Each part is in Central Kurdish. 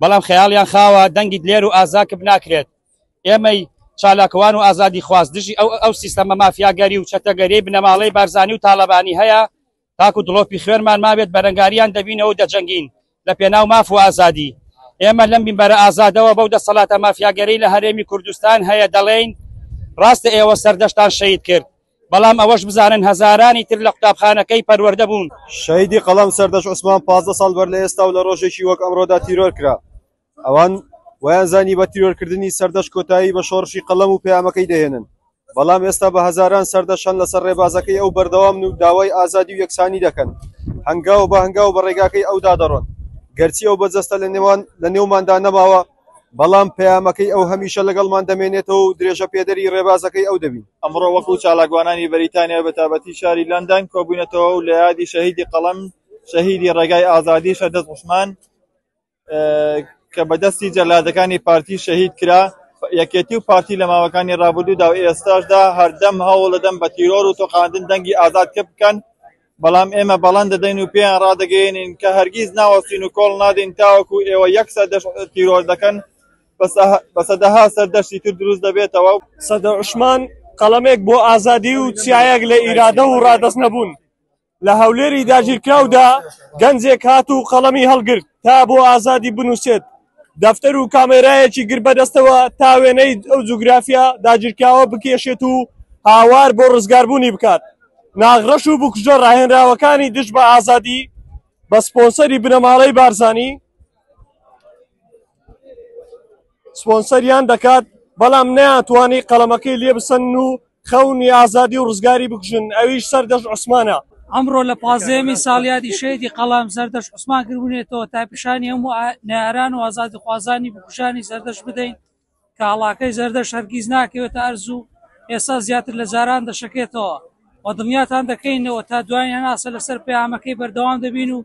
بەڵام خەیاڵیان خاوە دەنگی دلێر و ئازاکپ ناکرێت ئێمەی چالاکوان و ئازادی خواست دژی ئەو ئەو سیستەمە مافیاگەری و چەتەگەری بنەماڵەی بارزانی و تاالبانی هەیە تاکو دڵۆپی خوێنمان مابێت بەرەنگاریان دەبینەوە و دەجەنگین لە پێناو ماف و ئازادی ئێمە لەم بینبەرە ئازادەوە بەو دەسەڵاتە مافیاگەری لە هەرێمی کوردستان هەیە دەڵێین ڕاستە ئێوە سەردەشتان شەید کرد بەڵام ئەوەش بزانن هەزارانی تر لە قوتابخانەکەی پەروەردە بوون. شەهیدی قەڵەم سەردەشت عوسمان پازدە ساڵ بەر لە ئێستا و لە ڕۆژێکی وەک ئەمڕۆدا تیرۆر کرا. ئەوان وایانزانی بە تیرۆرکردنی سەردەشت کۆتایی بە شۆڕشی قەڵەم و پەیامەکەی دەهێنن، بەڵام ئێستا بە هەزاران سەردەشت هەن لەسەر ڕێبازەکەی ئەو بەردەوامن و داوای ئازادی و یەکسانی دەکەن، هەنگاو بە هەنگاو بە ڕێگاکەی ئەودا دەڕۆن، گەرچی ئەو بەرجەستە لە نێوماندا نەماوە، بەڵام پەیامەکەی ئەو هەمیشە لەگەڵمان دەمێنێتەوە و درێژەپێدەری ڕێبازەکەی ئەو دەبین. ئەمڕۆ وەکو چالاکوانانی بەریتانیا و بەتابەتی شاری لەندەن کۆبووینەتەوە و لەیادی شەهیدی قەڵەم، شەهیدی ڕێگای ئازادی شەدەت عوسمان کە بەدەستی جەلادەکانی پارتی شەهید کرا، یەکێتی و پارتی لەماوەکانی ڕابردوودا و ئێستاشدا هەردەم هەوڵدەدەن بەتیرۆر و تۆقاندن دەنگی ئازاد کپ بکەن بەڵام ئێمە بەڵێن دەدەین و پێیان ڕادەگەیەنین کە هەرگیز ناوەستین و کۆڵ نادەین تاوەکو ئێوە یەک سەردەشت تیرۆر دەکەن بە سەدەها سەردەشتی تر دروست دەبێتەوە. سەدر عوسمان، قەڵەمێک بۆ ئازادی و چیایەک لە ئیرادە و ڕادەستنەبوون. لە هەولێری داگیرکراودا گەنجێک هات و قەڵەمی هەڵگرت تا بۆ ئازادی بنووسێت، دەفتەر و کامێرایەکی گر بەدەستەوە تا وێنەی ئەو جوگرافیا داگیرکراوە بکێشێت و هاوار بۆ ڕزگاربوونی بکات ناغڕەش و بکوژە ڕاهێنراوەکانی دژ بە ئازادی بە سپۆنسەری بنەماڵەی بارزانی سپۆنسەریان دەکات بەڵام نەیانتوانی قەڵەمەکەی لێ بسەن و خەونی ئازادی و ڕزگاری بکوژن ئەویش سەردەشت عوسمانە. ئەمڕۆ لە پازدەیەمین ساڵیادی شەهیدی قەڵەم سەردەشت عوسمان گربوونێتەوە تا پیشانی هەموو نەیاران و ئازادیخوازانی بکوژانی زەردەشت بدەین کە ئاڵاکەی زەردەشت هەرگیز ناکەوێتە ئەرز و ئێستا زیاتر لە جاران دەشەکێتەوە و دڵنیاتان دەکەینەوە تا دوایین هەناسە لەسەر پەیامەکەی بەردەوام دەبین و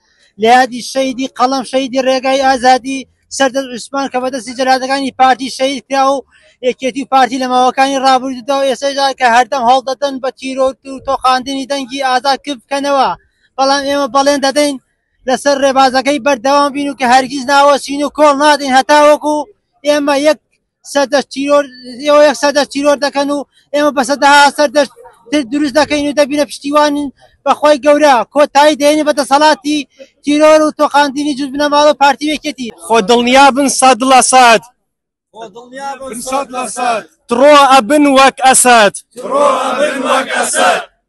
لە یادی شەیدی قەڵەم شەیدی ڕێگای ئازادی سەردەت عوسمان کە بەدەستی جەلادەکانی پارتی شەید کرا و یەکێتی و پارتی لە ماوەکانی ڕابردوودا و ئێسەشدا کە هەردەم هەڵدەدەن بە تیرۆر و تۆقاندنی دەنگی ئازاد کپ بکەنەوە بەڵام ئێمە بەڵێن دەدەین لەسەر ڕێبازەکەی بەردەوام بین و کە هەرگیز ناوەسین و کۆڵ نادەین هەتاوەکو ئێمە یەک سەدە تیرۆر یەک سەدە تیرۆر دەکەن و ئێمە بە سەدەها سەردەش تر دروست دەکەین و دەبینە پشتیوانین بەخوای گەورە کۆتایی دێنی بە دەسەڵاتی تیرۆر و تۆقاندنی جز بنەماڵە و پارتی وێکێتی خۆ دڵنیا بن سەد لە سەد تڕۆ ئەبن وەک ئەسەد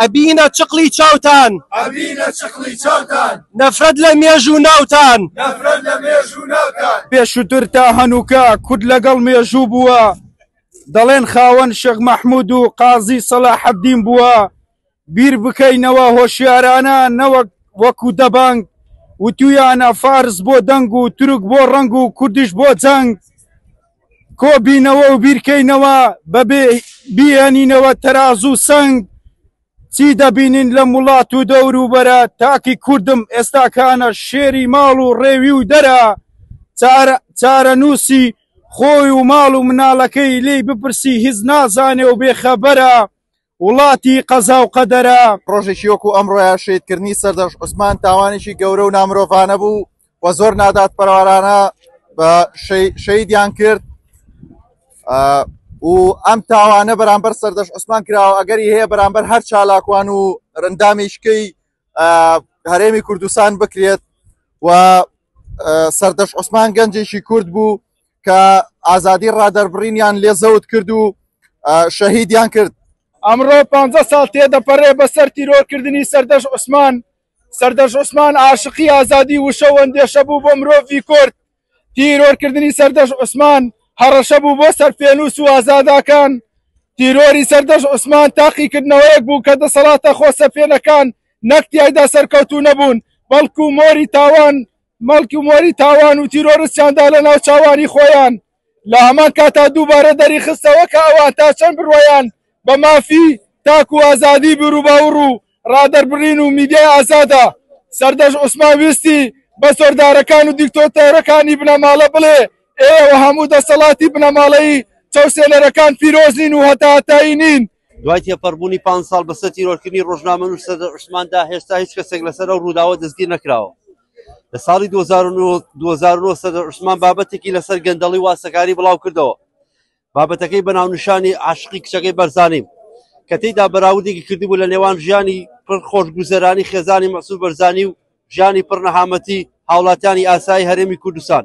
ئەبینە چقڵی چاوتان ئەبینە چقڵی چاوتان. نەفرەت لە مێژ و ناوتان نەفرەت لە مێژ و ناوتان. پێشوتر تا هەنوکە کورد لەگەڵ مێژوو بووە دەڵێن خاوەن شێخ مەحمود و قازی سەلاحەدین بووە بیر بکەینەوە هۆشیارانە نەوەک وەکو دەبەنگ وتویانە فارس بۆ دەنگ و تورک بۆ ڕەنگ و کوردیش بۆ جەنگ کۆبینەوە و بیرکەینەوە بەبێ بیهێنینەوە تەرازوو سنگ چی دەبینین لە وڵات و دەوروبەرە تاکی کوردم ئێستاکانە شێری ماڵ و ڕێوی و دەرە چارەنووسی خۆی و ماڵ و مناڵەکەی لی بپرسی هیچ نازانێ و بێخەبەرە وڵاتی قەزا و قەدەرە. ڕۆژێکی وەکو ئەمڕۆیە شەیدکردنی سەردەشت عوسمان تاوانێکی گەورە و نامرۆڤانە بوو و زۆر نادادپەروەرانە بە شەیدیان کرد و ئەم تاوانە بەرامبەر سەردەشت عوسمان کراوە ئەگەری هەیە بەرامبەر هەر چالاکوان و رندامیشکەی هەرێمی کوردستان بکرێت و سەردەشت عوسمان گەنجێکی کورد بوو کە ئازادی ڕادەربڕینیان لێ زەوت کرد و شەهیدیان کرد ئەمڕۆ پ ساڵ تێدەپەڕێ بەسەر تیرۆرکردنی سەردەش عوسمان سەردەش عوسمان عاشقی ئازادی وشەوەندێشە بوو بۆ مرۆڤی کورد تیرۆرکردنی سەردەش عوسمان هەڕەشە بوو بۆ سەر پێنووس و ئازاداکان تیرۆری سەردەش عوسمان تاقیکردنەوەیەک بوو کە دەسەڵاتە خۆسەفێنەکان نەکتیایدا سەرکەوتو نەبوون بەڵکو مۆری تاوان مەڵک و مۆری تاوان و تیرۆرستیان دا لە ناو چاوانی خۆیان لە هەمان کاتا دووبارە دەریخستەوە کە ئەوان تا چەند بڕوایان بە مافی تاک و ئازادی بیروباوڕ و ڕادەربڕین و میدیای ئازادە سەردەشت عوسمان ویستی بە زۆردارەکان و دیکتۆتەرەکانی بنەماڵە بڵێ ئێوە هەموو دەسەڵاتی بنەماڵەیی چەوسێنەرەکان پیرۆز نین و هەتاهەتایی نین دوای تێپەڕبوونی پانز ساڵ بەسەر تیرۆرکردنی ڕۆژنامەنووس سەردار عوسماندا هێشتا هیچ کەسێک لەسەر ئەو ڕووداوە دەستگیر نەکراوە لە ساڵی 2009 سەدر عوسمان بابەتێکی لەسەر گەندەڵی واسەکاری بڵاو کردەوە بابەتەکەی بە ناونشانی عاشقی کچەکەی بەرزانیم کە تێیدا بەراودێکی کردبوو لە نێوان ژیانی پڕ خۆشگوزەرانی خێزانی مەسوور بەرزانی و ژیانی پڕ نەهامەتی هاوڵاتیانی ئاسایی هەرێمی کوردستان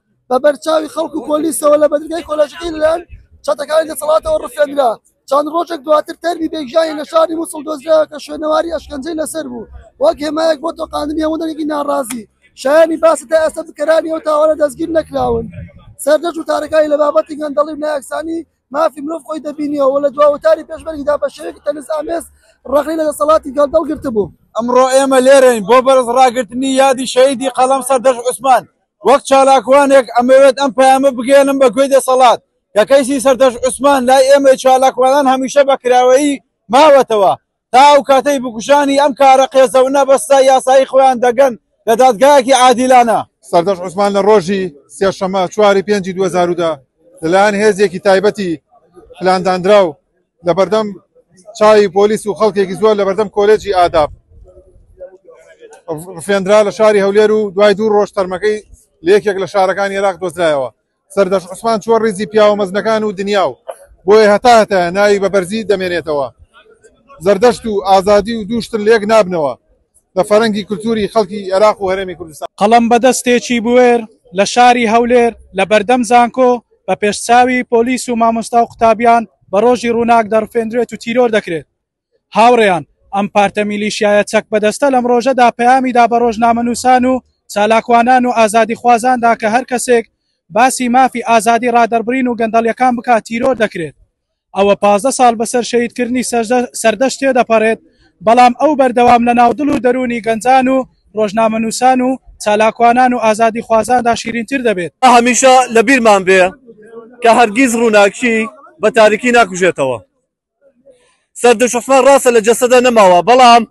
بە بەرچاوی خەڵک و پۆلیسەوە لە بەندگەی کۆلەژەکەی لەلایەن چەتەکانی دەسەڵاتەوە ڕفێندرا، چەند ڕۆژێک دواتر تەرمی بێگژیانی لە شاری موسڵ دۆزرایەوە کە شوێنەواری ئەشکەنجەی لەسەر بوو، وەک هێمایەک بۆ تۆقاندنی هەموو دەنگێکی ناڕازی. شایانی باسە تا ئێستا بکەرانی ئەو تاوانە دەستگیر نەکراون، سەردەشت وتارەکانی لە بابەتی گەندەڵی و نایەکسانی مافی مرۆڤ خۆی دەبینیەوە و لە دوا وتاری پێشمەرگیدا بە شێوەیەکی تەنزئامێز ڕەخنەی لە دەسەڵاتی گەندەڵ گرتبوو. ئەمڕۆ ئێمە لێرەین بۆ بەرز ڕاگرتنی یادی شەهیدی قەڵەم سەردەشت عوسمان وەک چالاکوانێک ئەمەوێت ئەم پەیامە بگەیەنم بە گوێی دەسەڵات کە کەیسی سەردەشت عوسمان لای ئێمەی چالاکوانان هەمیشە بە کراوەیی ماوەتەوە تا ئەو کاتەی بکوژانی ئەم کارە قێزەونە بە سزای یاسایی خۆیان دەگەن لە دادگایەکی عادیلانە. سەردەشت عوسمان لە ڕۆژی سێشەممە چواری پێنجی دوو هەزار و دە لەلایەن هێزێکی تایبەتی پلاندانراو لە بەردەم چاوی پۆلیس و خەڵکێکی زۆر لە بەردەم کۆلێجی ئاداب ڕفێندرا لە شاری هەولێر و دوای دوو ڕۆژ تەرمەکەی لە یەکێک لە شارەکانی عێراق دۆزرایەوە سەردەش عوسمان چوە ڕیزی پیاوە مەزنەکان و دنیا و بۆیە هەتا هەتا ناوی بە بەرزی دەمێنێتەوە زەردەشت و ئازادی و دووشتن لە یەک نابنەوە بە فەرەنگی کولتووری خەڵکی عێراق و هەرێمی کوردستان. قەڵەمبەدەستێکی بوێر لە شاری هەولێر لە بەردەم زانکۆ بە پێشچاوی پۆلیس و مامۆستا و قوتابیان بە ڕۆژی ڕووناک دەڕفێندرێت و تیرۆر دەکرێت. هاوڕێیان، ئەم پارتە میلیشیایە چەک بەدەستە لەم ڕۆژەدا پەیامی دا بە ڕۆژنامەنووسان و چالاکوانان و ئازادیخوازاندا کە هەر کەسێک باسی مافی ئازادی ڕادەربڕین و گەندەڵیەکان بکات تیرۆر دەکرێت. ئەوە پازدە ساڵ بەسەر شەهیدکردنی سەردەشت تێدەپەڕێت، بەڵام ئەو بەردەوام لە ناو دڵ و دەروونی گەنجان و ڕۆژنامەنووسان و چالاکوانان و ئازادیخوازاندا شیرینتر دەبێت. با هەمیشە لە بیرمان بێ کە هەرگیز ڕووناکی بە تاریکی ناکوژێتەوە. سەردەشت عوسمان ڕاستە لە جەسەدە نەماوە، بەڵام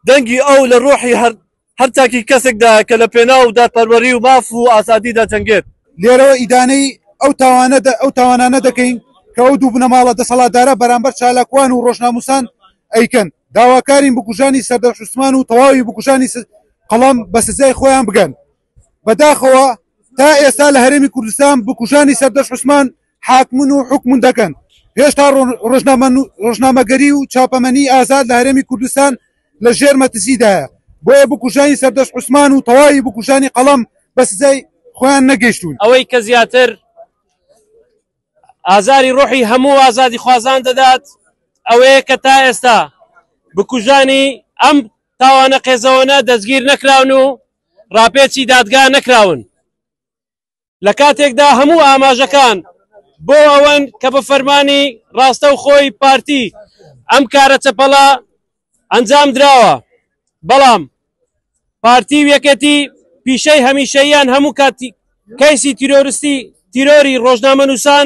دەنگی ئەو لە ڕۆحی هەر هەر چاکی کەسێکدایە کە لە پێناو دادپەروەری و ماف و ئازادی دەجەنگێت. لێرەوە ئیدانەی ئەو تاوانە ئەو تاوانانە دەکەین کە ئەو دوو بنەماڵە دەسەڵاتدارە بەرامبەر چالاکوان و ڕۆژناموسان ئەیکەن. داواکارین بکوژانی سەردەشت عوسمان و تەواوی بکوژانی قەڵەم بە سزای خۆیان بگەن. بەداخەوە تا ئێستا لە هەرێمی کوردستان بکوژانی سەردەشت عوسمان حاکمن و حوکمن دەکەن، هێشتا ڕۆژنامەگەری و چاپەمەنی ئازاد لە هەرێمی کوردستان لە ژێر مەترسیدایە، بۆیە بکوژانی سەردەشت عوسمان و تەواوی بکوژانی قەڵەم بە سزای خۆیان نەگەیشتوون. ئەوەی کە زیاتر ئازاری ڕۆحی هەموو ئازادیخوازان دەدات ئەوەیە کە تا ئێستا بکوژانی ئەم تاوانە قێزەوەنە دەستگیر نەکراون و ڕاپێچی دادگا نەکراون. لە کاتێکدا هەموو ئاماژەکان بۆ ئەوەن کە بە فەرمانی ڕاستە و خۆی پارتی ئەم کارە چەپەڵە ئەنجام دراوە بەڵام پارتی و یەکەتی پیشەی هەمیشەیان هەموو کاتی کەیسی تیرۆرستی تیرۆری ڕۆژنامە نووسان